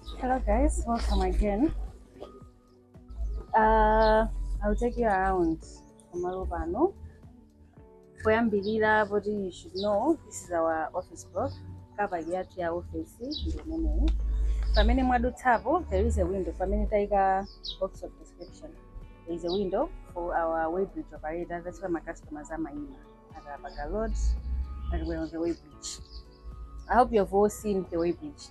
Hello guys, welcome again. Uh, I'll take you around pamalo pano. Poyambirira poti you should know this is our office block. Kabali yathu ya office ndi imeneyi. Pamene mwadutsapo there is a window pamene taika box of description. There is a window for our weighbridge operator that's where my customers amayima. Akapaka load and we're on the weighbridge. I hope you've all seen the weighbridge.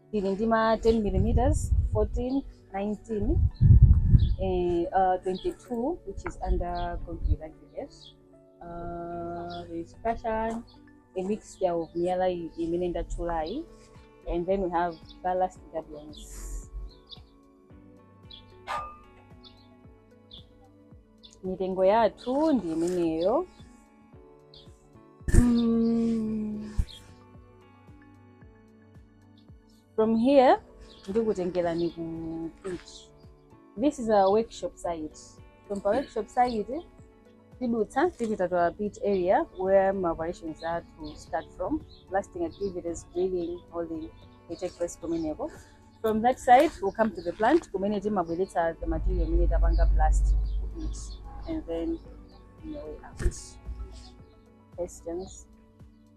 tili ndi ma 10 mm 14 19 eh, uh, 22 which is under concrete aggregates uh, there is fashion a mixture of miyala i- imene ndatchulayi and then we have ballast gabions mitengo yathu ndi imeneyo mm. from here ndikutengerani ku pitch this is our workshop site from pa workshop site tidutsa tipita to our pitch area where ma operations are to start from blasting activities drilling holding they take place kumeneko from that site we come to the plant kumene timabweretsa the material imene tapanga blast ku pitch and then on the way out questions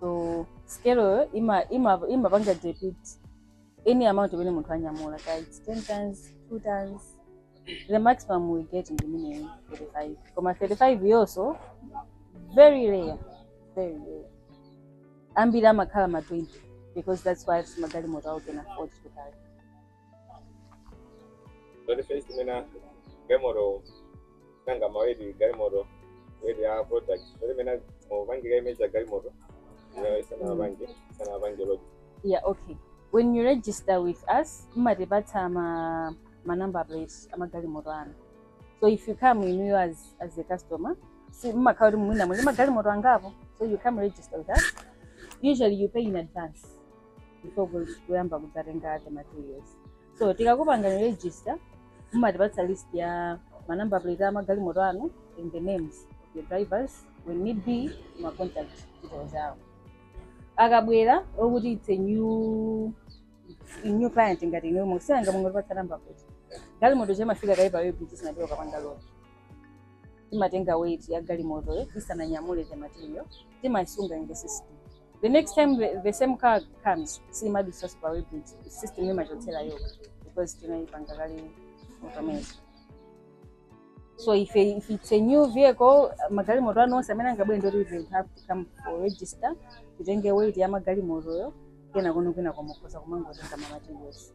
so scale yo ima imapanga depict any amount imene munthu anyamula kaya it's 10 tons 2 tons the maximum we get ndi minimum 35 koma 35 yonso ndi very rare very rare ambiri amakhala ma 20 because that's what magalimoto awo can afford to carry Ndiye kuti first mwina galimoto nanga ma weight galimoto weight ya product zoti mwina mupange image ya galimoto ino isanapange isanapange load yeah okay when you register with us mmatipatsa ma ma number plates amagalimoto anu so if you come we know you as, as a customer si mmakhala kuti mwina muli ndi magalimoto angapo so you come register with us usually you pay in advance before ku- kuyamba kudzatenga the materials so tikakupangani register mumatipatsa list ya manamba plate a magalimoto anu and the names of your drivers when need be ma contact details awo akabwera okuti it's a new new client ngati inuyo mwasankha mungotipatsa namba plate galimoto imafika kaye pa weighbridge isanapite kukapanga load timatenga weight ya galimotoyo tisananyamule the material timaisunga in the system the next time the, the same car comes simadutsa pa weighbridge system imachotsera yokha because tinaipanga kale automation so if, if it's a new vehicle magalimoto anu onse amene angabwere ndiye kuti they will have to come for register titenge weight ya magalimotoyo kenako kwinako mukhoza kumangotenga ma materials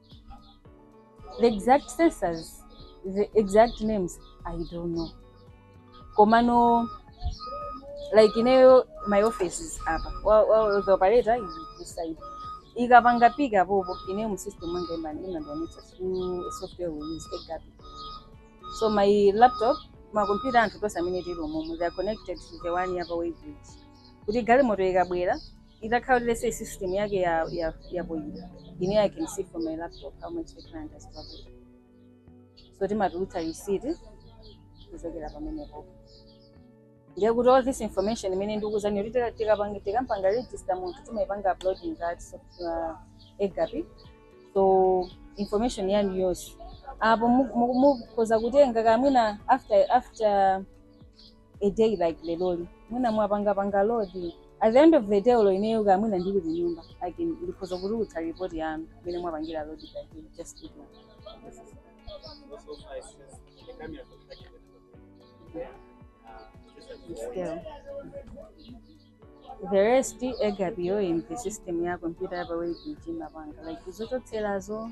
the exact sensors the exact names i don't know komano like ineyo my office is apa Wa- wa- the operator is this side ikapanga pick apopo ineyo mu system mwanga imani imandonetsa through software we use egap so my laptop makompyuta anthu tonse amene tili umomo they are connected to the one yapa weighbridge kuti galimoto ikabwera itakhala kuti let's say system yake ya ya ya pompo uja ine i can see from my laptop how much the client has carried so timatulutsa receipt kuchokera pamenepo ndiye kuti all this information imene ndikukuuzani kuti tika- tikapanga tikampanga register munthu timaipanga upload in that software egapi so information yanu yonse apo mukhoza kutenga kamwina after after a day like leroli mwina mwapangapanga load at the end of the day olo ineyo kaya mwina ndili kunyumba like ndikhoza kutulutsa report yanu imene mwapangira load by day just to do. Still. the rest ikapita in the system ya computer yapa weighbridge imapanga like zochotserazo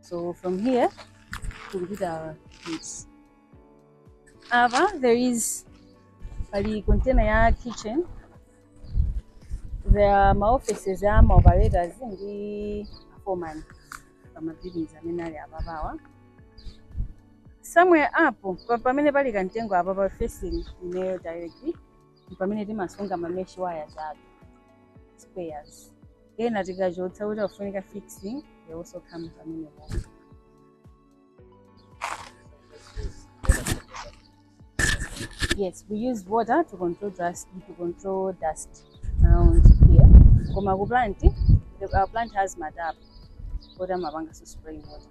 So from here tikupita kids. Apa there is pali container ya kitchen. There are ma offices ya ma operators ndi foreman pa ma buildings amene ali apawa. Somewhere apo pa- pamene pali kantengo apa ba facing ineyo directly ndi pamene timasunga ma mesh wires athu spares ena tikachotsa kuti akufunika fixing they also come pamenepo yes we use water to control dust to control dust around here koma ku plant the- our plant has ma tap oti amapanga so spraying water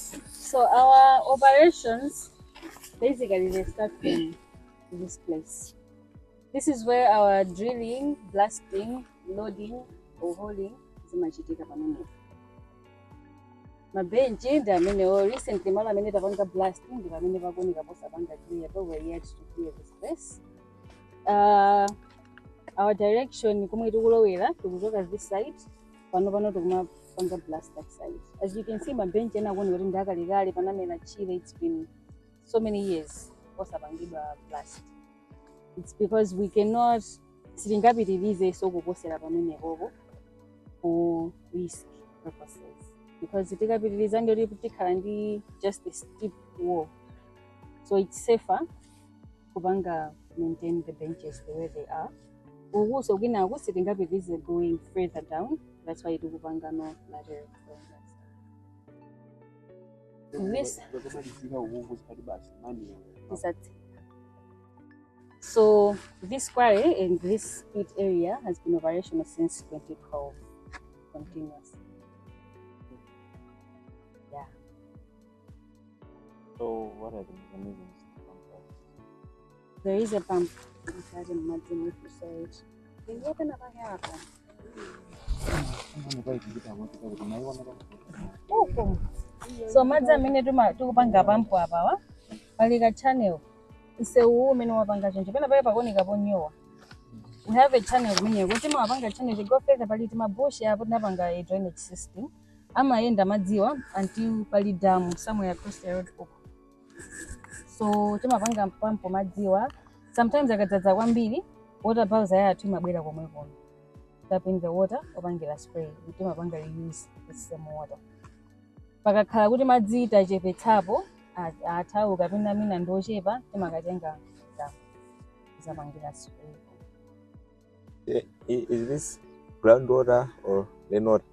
So our operations basically they start from this place. This is where our drilling, blasting, loading or hauling zimachitika pamenepo. Mabenchi ndi amenewo recently malo amene tapanga blasting ndi pamene pakuoneka posapanga clear but we're yet to clear this place. Uh, our direction komwe tikulowera tikuchoka this side pano pano tikumapanga blast this side as you can see mabench ena akuoneka kuti ndi akalekale panamera tchire it's been so many years osapangidwa blast it's because we cannot sitingapitirizenso kuposera pamenepopo for risk purposes because tikapitiriza ndiye tikhala ndi just a steep wall so it's safer kupanga maintain the benches the way they are ukuso kwinaku sitingapitize going further down that's why tikupanga no lateral flow. This- Zokamalizika ukuku zikati basi mani. Exactly. So this quarry and this pit area has been operational since 2012, continuous. So what are the mechanisms to pump that? There is a pump inside in Martin if you say it. Can you open up my hair? Uku. So madzi amene tuma- tikupanga pump apawa pali ka channel msewuwu umene wapanga choncho pena pake pakuoneka ponyowa we have a channel kumeneko timawapanga channel tingoyerekeza pali tima bush apo tinapanga a drainage system amayenda madziwa until pali damu somewhere across the road uko so timapanga pump madziwa sometimes akadzadza kwambiri water bowser yathu imabwera komwe kono tapping the water opangira spray timapanga reuse the same water pakakhala kuti madzi tachepetsapo a- atha kapena mwina ndi ochepa timakatenga damu zapangira spray Eh, i- Is this groundwater or rainwater?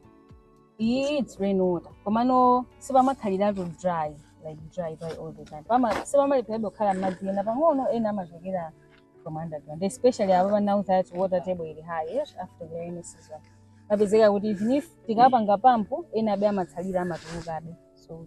iyi it's rainwater komano sipamakhaliratu dry like dry dry all the time pama sipamalepherabe kukhala madzi ena pang'ono ena amachokera from underground especially apapa now that water table ili high yes, after the rainy season mapezeka kuti even if tikapanga pampu ena abe amatsalira amatulukabe so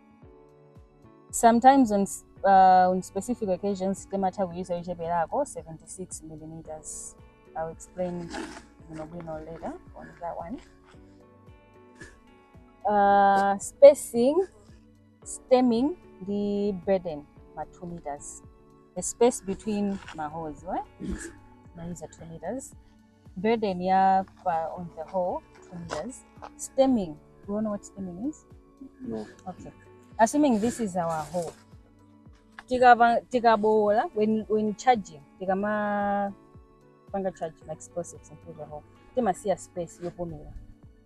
sometimes on, s- uh, on specific occasions timatha kuyuza yocheperako 76 millimeters i'll explain bwinobwino later on that one uh, spacing stemming ndi burden ma 2 meters the space between ma holes right? mayuza 2 meters burden ya pa on the whole tenders stemming you wanna know what stemming is No. okay assuming this is our whole tikapa tikabowola when when charging tikama panga charge ma explosives into the whole timasiya space yopumira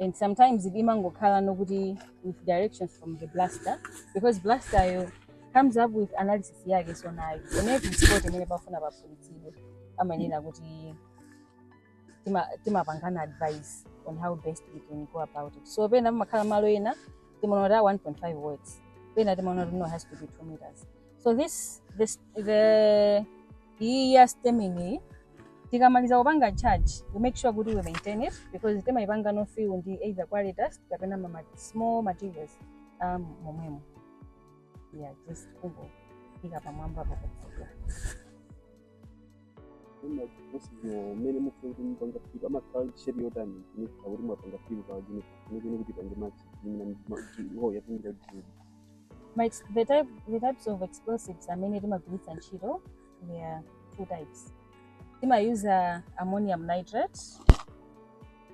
and sometimes imangokhala nokuti with direction from the blaster because blaster yo comes up with analysis yake so nayo in every spot imene pafuna paphulitsidwe amanena kuti tima- timapangana advice on how best we can go about it so pena pamakhala malo ena timaona kuti a 1.5 works pena timaona kuti no has to be 2 meters so this the, the iyi ya stemming iyi tikamaliza kupanga charge we make sure kuti we maintain it because timayipanga no fill ndi either quarry dust kapena ma ma- small materials a momwemo yeah just kungoika pamwamba pakufuka mmene mufuna kuti mupanga filu amakhala shape yotani kuti mwapanga filu pa junipa kuti pange machi imene yatingira kuti My, ex- the, type, the types of explosives imene timagwiritsa ntchito there are two types timayuza ammonium nitrate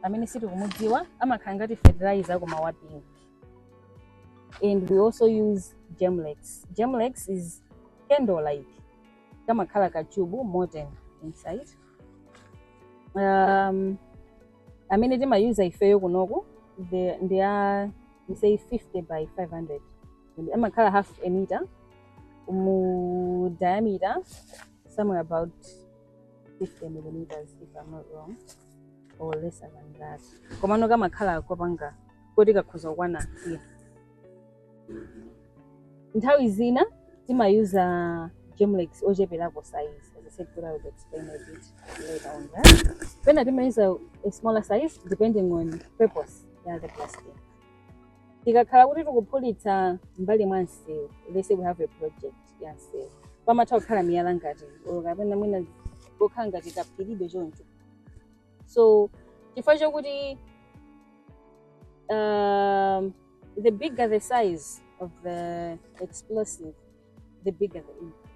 amene si tikumudziwa amakhala ngati fertilizer koma wa pink and we also use gemlex gemlex is candle like kamakhala kachubu molten inside um, amene timayuza ifeyo kunoku the- ndi a we say 50 by 500 amakhala half a meter mu diameter somewhere about 50 millimeters if i'm not wrong or lesser than that komano kamakhala kopanga koti kakhoza kukwana here nthawi zina timayuza gemlex ocheperako size as i said i would explain a bit later on that pena timayuza a smaller size depending on purpose ya the blasting tikakhala kuti tikuphulitsa mbali mwa msewu let's say we have a project ya msewu pamatha kukhala miyala ngati or kapena mwina kokhala ngati kaphiribe choncho so chifukwa chokuti um, the bigger the size of the explosive the bigger the impact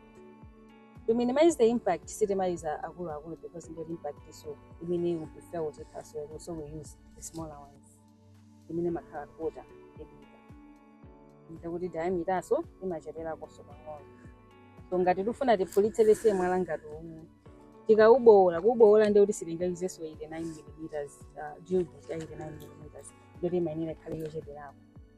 to minimize the impact sitimayuza akuluakulu because ndio impact so imene will be felt afar as well so we use the smaller ones imene makhala quarter yake ndikuti diameter-nso imacheperakonso pang'ono so ngati tifuna tiphulitse let's say mwala ngati uwu tikaubowola kuubowola ndio kuti sitingayuzenso 89 millimeters uh, drill bit ya 89 millimeters ndio timayenera ikhale yocheperako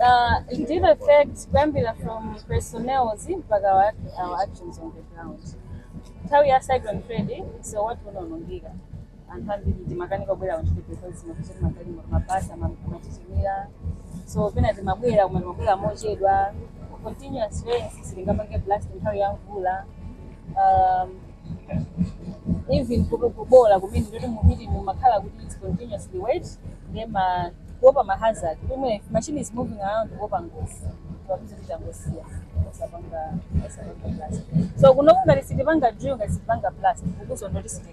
Uh, it did affect kuyambira from personnels mpaka wa- our actions on the ground nthawi ya cyclone freddy msewu wathu unaonongeka anthu ambiri timakanika kubwera kuntchito because mapeza kuti magalimoto mabasi amatitimira so pena timabwera koma timabwera mochedwa continuous rains sitingapange blast nthawi ya mvula um, even kuto- kubola kumene ndi kuti mu pit mumakhala kuti it's continuously wet nde kuopa ma hazard if machine is moving around kuopa ngozi timawauza kuti angosiya osapanga osapanga blast so kunoku ngati sitipanga drill ngati sitipanga blast ukuso ndi kuti siti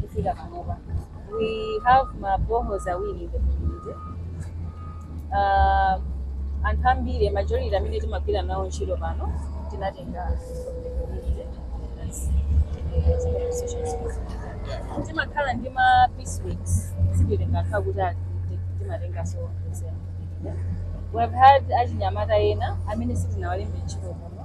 kufika panopa we have ma boreholes awiri in the community uh, anthu ambiri majority amene timagwira nawo ntchito pano tinatenga from the community. That's, eh, zimene associations do. timakhala ndi ma piece works sititenga nthawi kuti ati timatenga so we have had achinyamata ena amene sitinawalembe ntchito kuno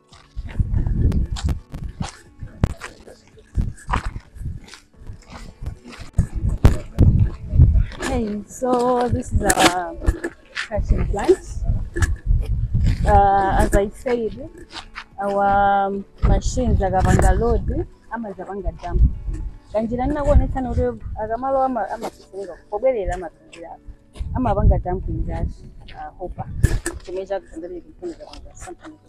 Okay, so this is our crushing plant. Uh, as I said, our um, machines akapanga load amazapanga dump kanjira ndinakuonetsani kuti akamalowa ama- amafika pobwerera amapingira amapanga dump in that uh, hopper chomwe chakutandalira kufunika kwanga something like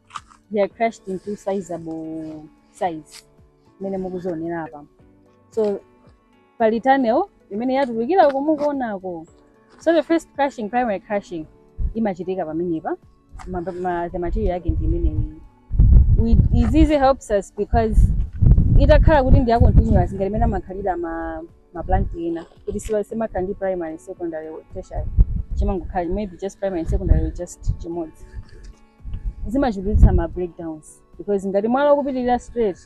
they are crushed into sizable size imene mukudzionera apa so pali tunnel imene yatulukira uko mukuonako so the first crushing primary crushing imachitika pamenepa ma, ma, the material yake ndi imeneyi izizi helps us because itakhala kuti ndi ya continuous ngati imene amakhalira ma maplant ena kuti siwa- simakhala ndi primary secondary tertiary chimangokhala maybe just primary and secondary just chimodzi zimachulukitsa ma breakdowns because ngati mwalawo ukupitirira straight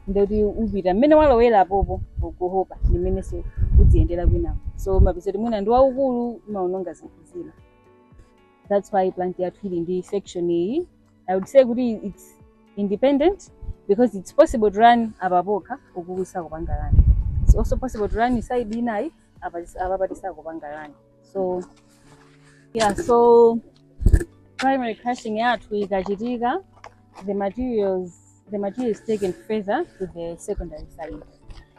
ndikuti upita mmene walowera apopo ku hopper ndi mmenenso udziyendera kwinako so mapeza kuti mwina ndi waukulu umaononga zinthu zina that's why plant yathu ili ndi section iyi i would say kuti its independent because its possible to run apa pokha uku kusakupanga run its also possible to run side inayi apapa patisakupanga run so yeah so primary crushing yathu ikachitika the materials the material is taken further to the secondary side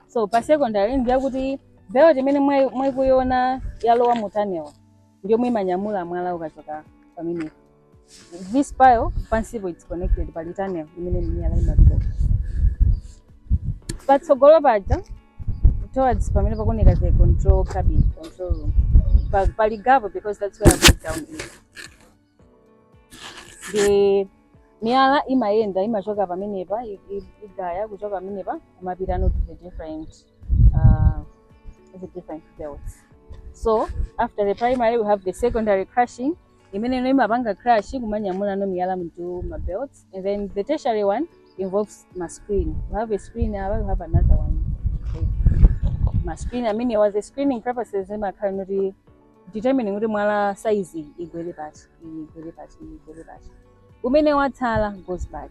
so pa secondary ndiye kuti belt imene mwayi- mukuiona yalowa mu tunnel ndi yomwe imanyamula mwala ukachoka pamenepo this pile pansipo it's connected pali tunnel imene miyala imapita patsogolo paja towards pamene pakuoneka the control cabin control room Pa- pali gapo because that's where breakdown is nde miyala imayenda imachoka pamenepa i- i- igaya kuchoka pamenepa kumapitano to the different uh, the different belts so after the primary we have the secondary crushing imene ino imapanga crush kumanyamulano miyala into ma belts and then the tertiary one involves ma screen you have a screen apa you have another one ma screen amene was a screening purposes imakhalano to determine kuti mwala size igwere pati iyi igwere pati iyi igwere pati umene watsala goes back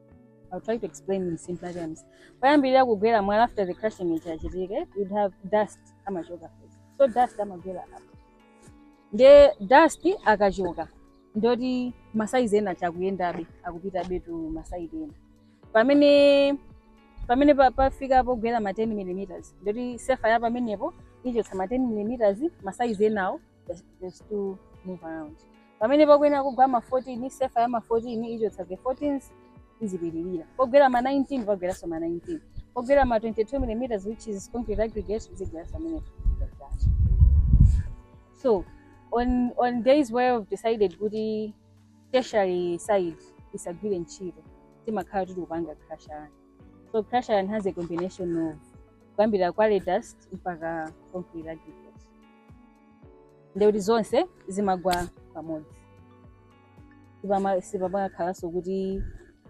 I'll try to explain in simpler terms. Poyambirira kugwera mwala after the crushing ija yachitika, you'd have dust amachoka first. So dust amagwera apa. Nde dust akachoka ndoti masaizi ena aja akuyendabe akupitabe to masaidi ena. Pamene pamene pa- pafika pogwera ma 10 mm ndoti sefa ya pamenepo ichotsa ma 10 mm masaizi enawo has to move around pamene pakuyenera kugwa ma 14 sefa ya ma 14 ichotsa the 14s izipitirira pogwera ma 19 pagweranso ma 19 pogwera ma 22 millimeters which is concrete aggregate zigweranso pamene so on on days where we've decided kuti tertiary side isagwire ntchito timakhala kuti tikupanga crusher run so crusher run has a combination of kuyambira quarry dust mpaka concrete aggregate ndekuti zonse zimagwa pamodzi Sipama- sipamakhalanso kuti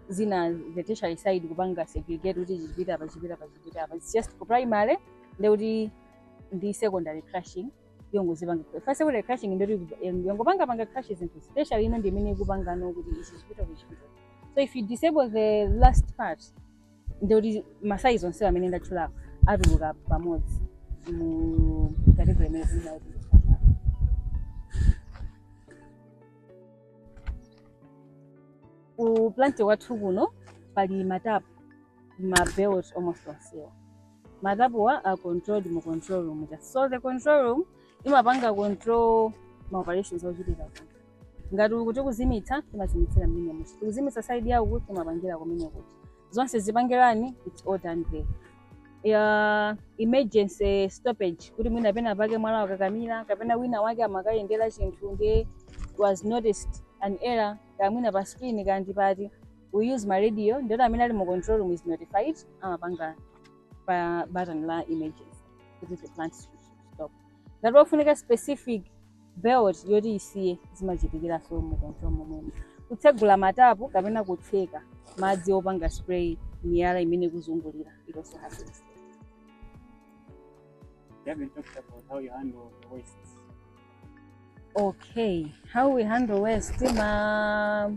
zina the tertiary side kupanga segregate kuti ichi chipita apa chipita apa chipita apa its just ku primary ndekuti ndi secondary crushing yongozipanga fa secondary crushing ndekuti yongopanga panga crush zinthu tertiary ino ndi imene ikupangano kuti ichi chipita uku chipita so if you disable the last part ndikuti masayizi onsewa amene ndatchulapo atuluka pamodzi mu category imene tinayo ku plant kwathu kuno pali matapu mabelt almost onsewa matapuwa are controlled mu control room ja so the control room imapanga control ma operations ochitika kuno ngati uku tikuzimitsa timazimitsira mmenemu tikuzimitsa side ya uku timapangira kumene kuti zonse zipange run its all done there ya emergency stoppage kuti mwina pena pake mwala wakakamira kapena wina wake amakayendera chinthu nde was noticed an error kaya mwina pa screen kaya ndi pati we use ma radio ndoti amene ali mu control room is notified amapanga pa button la emergency kuti the plant should stop ngati ofunika specific belt yoti isiye zimachitikiranso mu control momwemo kutsegula matapu kapena kutseka madzi opanga spray miyala imene kuzungulira it also happens You haven't talked about how you handle the waste. okay how we handle waste ma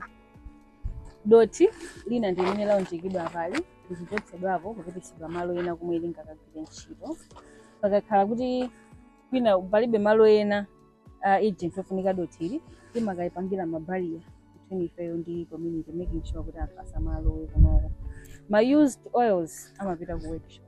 Dothi lina ndi limene launjikidwa apali limachotsedwapo kupititsidwa malo ena komwe lingakagwire ntchito. Pakakhala kuti kwina palibe malo ena a urgent ofunika dothili, timakalipangira ma barrier between ifeyo ndi community making sure kuti anthu asamalowe kunoko. Ma used oils amapita ku workshop.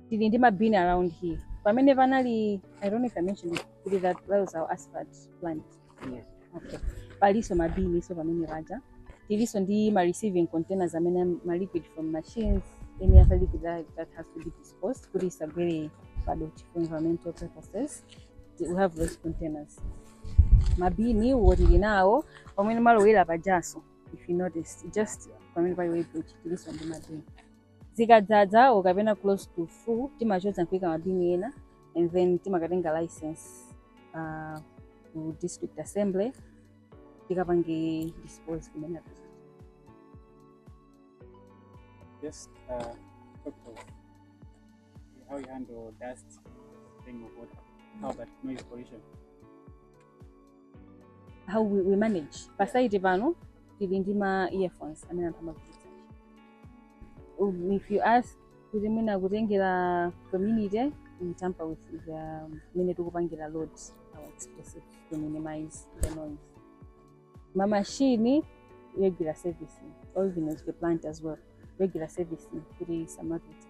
Tili ndi ma bin around here. Pamene panali I don't know if I mentioned it, kuti that, that was our asphalt plant. Yes. Okay. Palinso ma bin so pamene paja. Tilinso ndi ma receiving containers amene ma liquid from machines any other liquid that, that has to be disposed kuti isagwere padothi for environmental purposes. We have those containers. Mabini wo tili nawo pamene mwalowera pajaso if you notice just pamene pali weighbridge tilinso ndi mabini. zikadzadza or kapena close to full timachotsa nkuika mabini ena and then timakatenga license uh, ku district assembly tikapange dispose kumene api- Just uh, talk of how you handle dust, thing of water, how about noise pollution. how we, we manage pa site pano tili ndi ma earphones amene anthu amagwiritsa Um, if you ask kuti mwina kutengera community we tamper with the um, mene tikupangira load our explosives to minimize the noise ma machine regular servicing or even as the plant as well regular servicing kuti samapita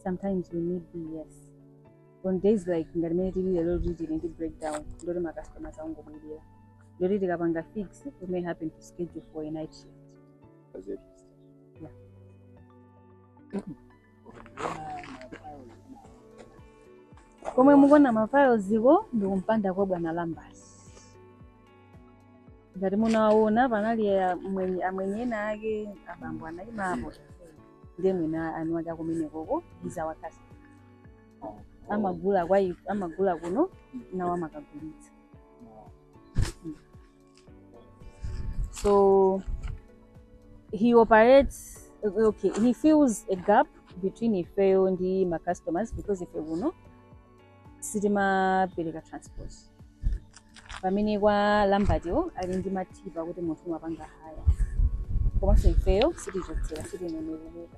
sometimes we need yes on days like ngati mene tili lero kuti tili ndi breakdown ndoti macustomers angobwerera ndoti tikapanga fix we may happen to schedule for a night shift That's it. komwe mukuona mafailoziko ndi kumpanda kwa bwana lambasi ngati munawaona panali amwenye ena ake abambo anaimapo ndiye mwina ana ake akumenekoko iza wakasi amagula kwa amagula kuno nawo amakagulitsa So he operates, okay, he fills a gap between ifeyo ndi ma customers because ife kuno sitimapereka transport pamene kwa lambatiwo ali ndi mathipa kuti munthu umapanga hire komanso ifeyo sitichotsera sitineneleleka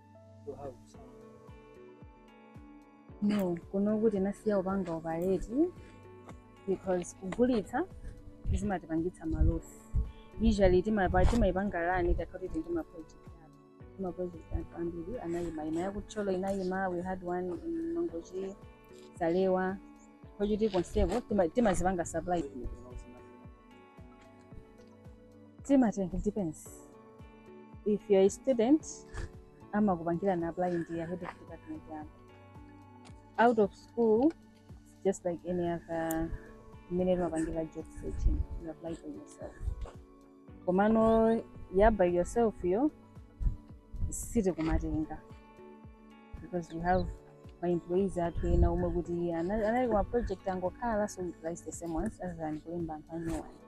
you have some. no kuno kuti tinasiya kupanga operate because kugulitsa zimatipangitsa malosi usually timapa- timayipanga run tikakhala kuti tili ndi maproject athu timaproject athu ambiri anayima ina ya ku Thyolo inayima we had one in mangochi zalewa Kochiti konseko tima- timazipanga supply timatenga it depends if you're a student amakupangirani apply ndi ya head of department yanu out of school it's just like any other mmene timapangira job searching you apply for yourself komano ya by yourself yo sitikumatenga because we have ma employees athu ena omwe kuti ana- anali kuma project angokhala so we prioritize the same ones as than kulemba anthu anyuwani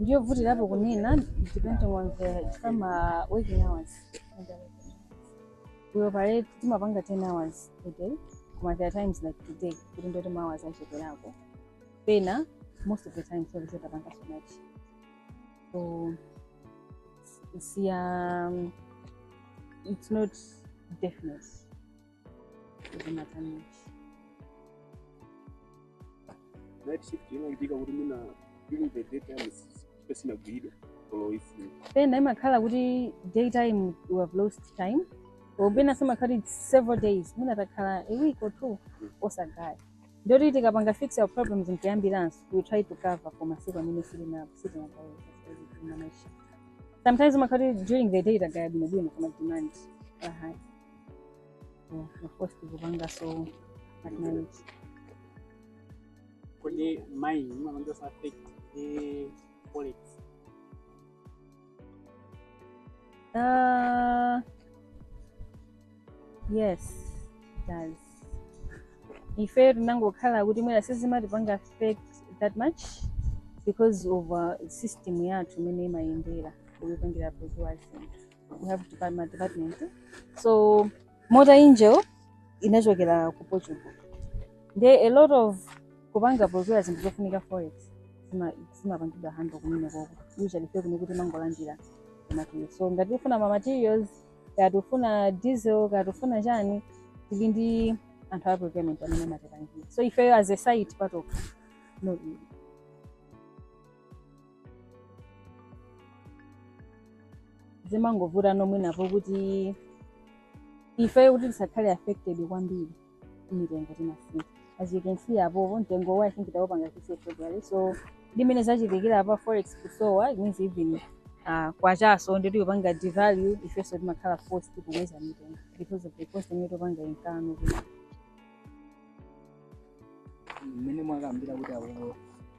ndiyovutirapo kunena depending on the ma working hours we operate timapanga 10 hours a day koma there are times like today kuti ndoti ma hours acheperako pena most of the time ndi zoti tapanga so much so it's, it's, um, it's not definite pena imakhala kuti daytime you have lost time or pena zimakhala kuti it's several days mwina takhala a week or two osagaya ndoti tikapanga fix our problems nkuyambiranso we try to cover for masiku amene sitinapo sitinagaye sometimes umakhala kuti during the day tagaya bwinobwino koma demand ili high Oh, of course tikupanga so at night. kodi ma inu mumapanga affect ndi forex Uh, yes, it does. Ife timangokhala kuti mwina sizimatipanga affect that much because of uh, system yathu imene imayendera kupangira kwa zinthu we have department, department. so Mota-Engil inachokera ku portugal nde a lot of kupanga procure zinthu zofunika forex zima- zimapangidwa handle kumene koko usually ife kuno timangolandira kumatiyo so ngati tifuna ma materials ngati tifuna diesel ngati tifuna chani tili ndi anthu a procurement amene amatipangira so ifeyo as a site patokha no zimangovuta nomwenapo kuti ife kuti tisakhale affected kwambiri mitengo timasintha as you can see apopo mtengo wa i think tawupanga mwezi wa february so ndi mmene zachitikira apa forex kusowa it means even uh, kwachanso ndi akuipanga devalue ifenso timakhala forced kukweza mitengo because of the cost imene tikupanga incur mmene mwakambila kuti awo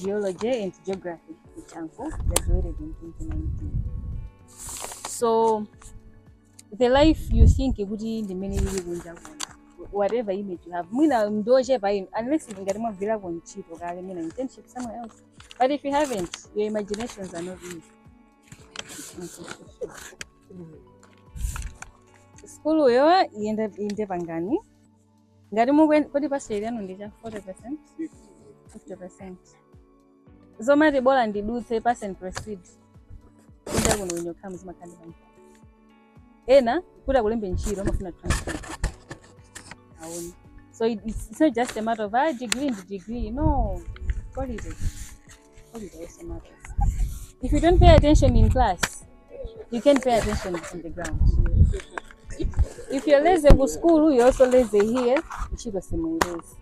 Geology and Geography ku Chanco, graduated in 2019. So the life you think kuti ndi mmene ili kunja kuno whatever image you have mwina ndi yochepa you know unless ili ngati mwagwirako ntchito kale mwina internship somewhere else but if you haven't your imaginations are not easy skuluyo iyenda inde pangani ngati mukwen- kodi pass rate yanu ndi cha 40 percent 50 percent zomati bola ndidutse pass and proceed kunja kuno when you come zimakhala ndi makampani ena kuti akulembe ntchito amafuna transcript aone so it- it's, it's not just a matter of ah, degree ndi degree no quality If you don't pay attention in class, you can't pay attention on the ground. If you're lazy ku school, you're also lazy here. Ntchito simuipeza.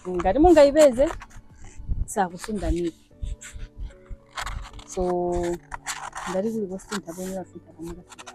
Ngati mungaipeze sakusungani. So ngati kuli kosintha bwenzi akusintha pomwe pasukulu.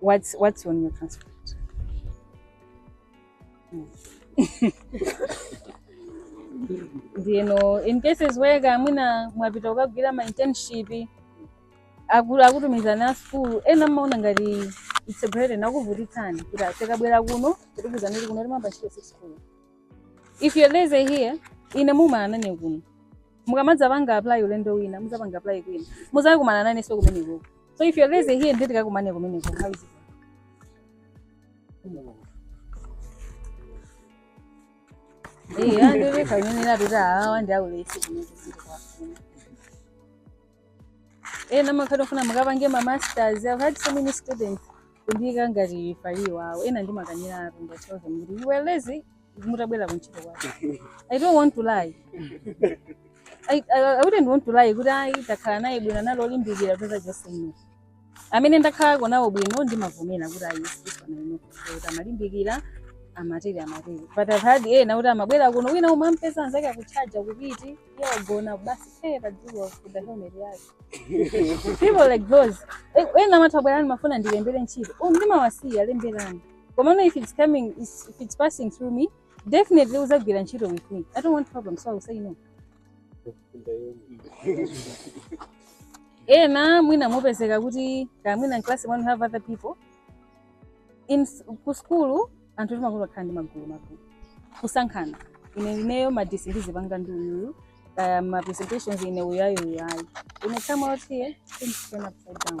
What's what's on your transcript? you know in cases where kamwina mwapita kukagwira ma internship akutumizani a school ena mmaona ngati it's a burden akuvutitsani kuti akabwera kuno kuti kudzangoti kuno tiyamba ntchito si school if you're lazy here ine mukumana nane kuno mukamadzapanga apply ulendo wina mudzapanga apply kwina muzakumana nanenso kumenekoko So if you're lazy here, nditi takumana kumeneko how is it. Eh, ndiye ndikanena kuti awa ndi aulesi kumene ziko kwa. Eh, ena amakhala akufuna mukapange ma masters. I've had so many students kundiika ngati referee wawo. Ena ndimakaniratu and I tell them. You were lazy. mutabwera kuntchito kwake i don't want to lie I, I, I wouldn't want to lie kuti ayi takhala naye bwino anali olimbikira pa zonse say no amene ndakhalako nawo bwino ndimavomera kuti ayi so far I know kuti amalimbikira amatere amatere but i've had ena kuti amabwera kuno wina umampeza anzake akutchaja kupiti iye wagona basi phee pa dzuwa kuvala helmet yake people like those Eh, ena amati abwerenso amafuna ndiwalembere ntchito oh ndimawasiya lemberani komano if it's coming, if it's passing through me definitely uzagwira ntchito with me i don't want problem so i will say no ena mwina mupezeka kuti kaya mwina in class when you have other people in s- ku skulu anthu timakonda kukhala ndi magulu magulu kusankhana ine ineyo ma discussion ndizipanga ndi uyuyu kaya ma presentations ine uyayo uyayi ine come out here things turn upside down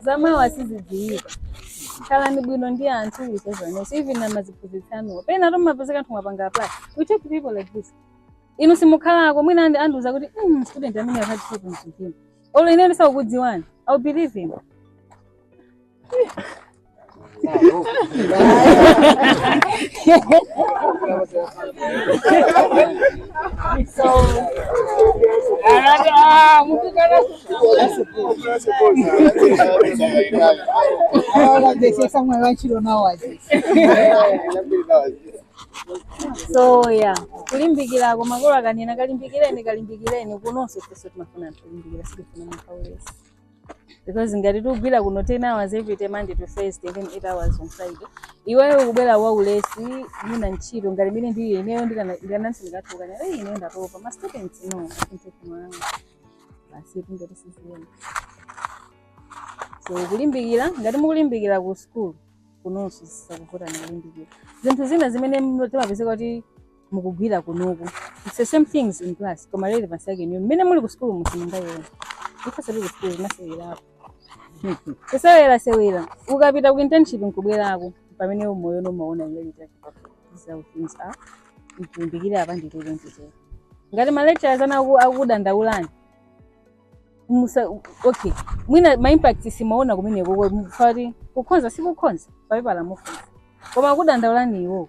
za mawa sizidziwika khalani bwino ndi anthu anzanuwo even ndi aziphunzitsi anuwo pena timapezeka anthu mwapanga apply we talk to people like this inu simukhalako mwina andiuza kuti mm, student amene I've had problems with him olo ineyo ndisakukudziwani i'll believe him so yeah kulimbikira makolo akanena kalimbikireni kalimbikireni kunonso ifenso timafuna anthu kulimbikira sitifuna munthu waulesi because ngati tikugwira kuno 10 hours every day monday to thursday then 8 hours on friday iweyo ukubwera wa ulesi mwina ntchito ngati imeneyi ndiye ineyo ndikanati ndikakuuzani eeh ineyo ndatopa ma students no asintekumanga basi ngati siziyenda so kulimbikira ngati mukulimbikira ku school kunonso sizizakuvutani kulimbikira zinthu zina zimene timapezeka kuti mukugwira kunoku it's the same things in class koma relevance yake inuyo mmene muli ku sukulu simungayione ifenso tili ku sukulu tinasewerapo kusewera sewera ukapita ku internship nkubwerako pamene mumayona mumaona reality how things are limbikirani apa ndikulonjezani ngati malecturers ana aku- akudandaulani musa okay mwina ma impact simaona kumeneko kwa- poti kukhoza sikukhoza papepala mukhoza koma akudandaulani iwo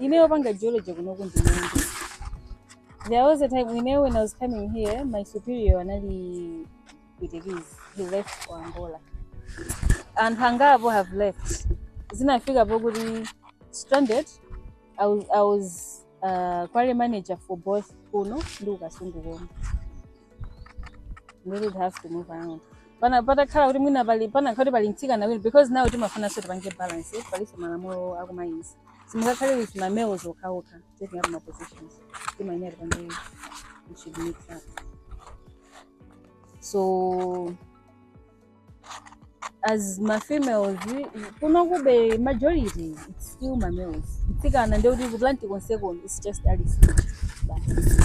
ine wopanga geology kunoku ndi mmodzi there was a time ineyo when i was coming here my superior anali mpwitikizi he left ku angola anthu angapo have left zinafika pokuti stranded i was, I was uh, quarry manager for both kuno ndi ku Kasungu komwe we would have to move around pana patakhala kuti mwina pali panakhala kuti pali mtsikana wina because now timafunanso tipange balance eh, palinso malamulo akumayinzi Simungakhale with ma males okhaokha taking up ma positions. Timayenera penapake we should mix up. So as ma females we- kuno kube majority it's still ma males. Mtsikana ndiye kuti kuplanti konseko it's just Alice. Basi.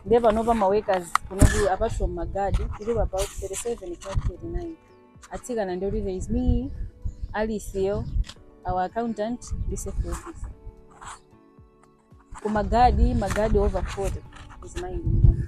ndiye panopa maworkers kuno ku apart from magadi tilipo about 37 if not 39 atsikana ndi kuti there is me Alice our accountant ndi safety officer ku magadi magadi over 40 is mmodzi